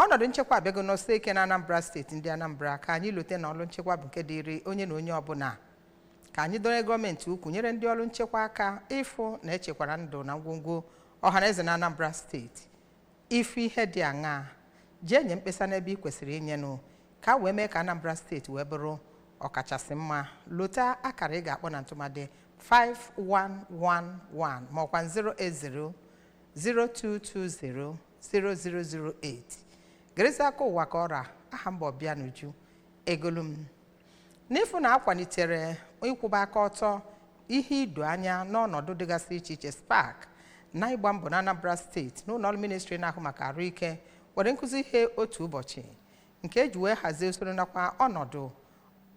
ọnọdụ nchekwa abịago nọsie ike na anambra steeti ndị anambra ka anyị lote na ọrụ nchekwa bụ nke dịịrị onye na onye ọbụla ka anyị dọnye gọọmenti ukwu nyere ndị ọrụ nchekwa aka ịfụ na echekwara ndụ na ngwongwo ọhaneze na anambra steeti ị fụ ihe dị aṅaa jee nye mkpesa n'ebe ị kwesịrị inyenụ ka e wee mee ka anambra steeti wee bụrụ ọkachasị mma lota akara ị ga-akpọ na ntụmadị 5111 ma ọkwa 0220-0008 gerezi akụkọ ụwa ka ọ ra aha m bụ obianuju egolum n'ịfụ na akwalitere ịkwụba aka ọtọ ihe ido anya n'ọnọdụ dịgasị iche iche spark na ịgba mbọ na anambra steeti na ụlọ ọrụ ministri na-ahụ maka arụ ike nwere nkụzi ihe otu ụbọchị nke eji wee hazie usoro nakwa ọnọdụ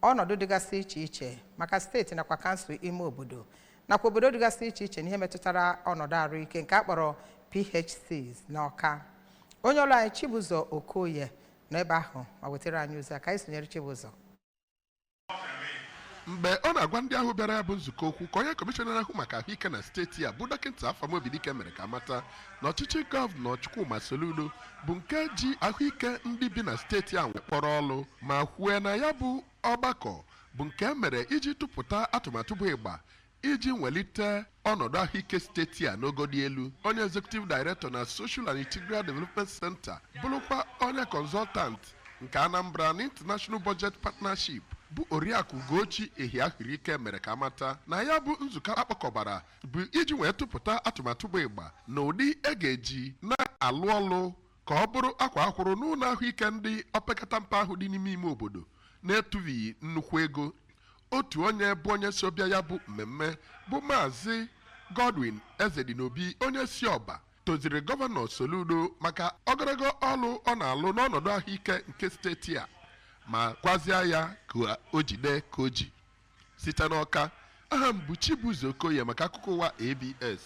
ọnọdụ dịgasị iche iche maka steeti nakwa kansụl ime obodo nakwa obodo dịgasị iche iche n'ihe metụtara ọnọdụ arụike nke a kpọrọ PHCs n'Ọka onye ọrụ anyị Chibụzọ Okoye nọ ebe ahụ ma wetara anyị ozi a ka anyị sonyere Chibụzọ mgbe ọ na-agwa ndị ahụ bịara ya bụ nzukọ okwu ka onye kọmishọna na-ahụ maka ahụike na steeti a bụ dọkịta afam obidike mere ka a mata na ọchịchị gọvanọ chukwuma soludo bụ nke ji ahụike ndị bi na steeti a wee kpọrọ ọlụ ma kwue na ya bụ Ọgbakọ bụ nke e mere iji tụpụta atụmatụ bụ ịgba iji nwelite ọnọdụ ahụike steeti a n'ogo dị elu onye executive director na social and integral development center bụrụkwa onye consultant nke anambra na international budget partnership bụ oriakụ ugochi ehiahuruike mere ka a mata na ya bụ nzukọ a kpọkọbara bụ iji wee tụpụta atụmatụ bụ ịgba na ụdị e ga-eji na-alụ ọlụ ka ọ bụrụ akwaa akwụrụ n'ụlọ ahụike ndị opekata mpe ahụ dị n'ime ime obodo na-etufughị nnukwu ego otu onye bụ onye so bịa ya bụ mmemme bụ maazị Godwin Ezedinobi onye si ọba toziri gọvanọ Soludo maka ogologo ọlụ ọ na-alụ n'ọnọdụ ahụike nke steeti a ma gwazia ya ka o jide ka o ji site n'ọka aha m bụ Chibụzọ Okoye maka akụkọ ụwa ABS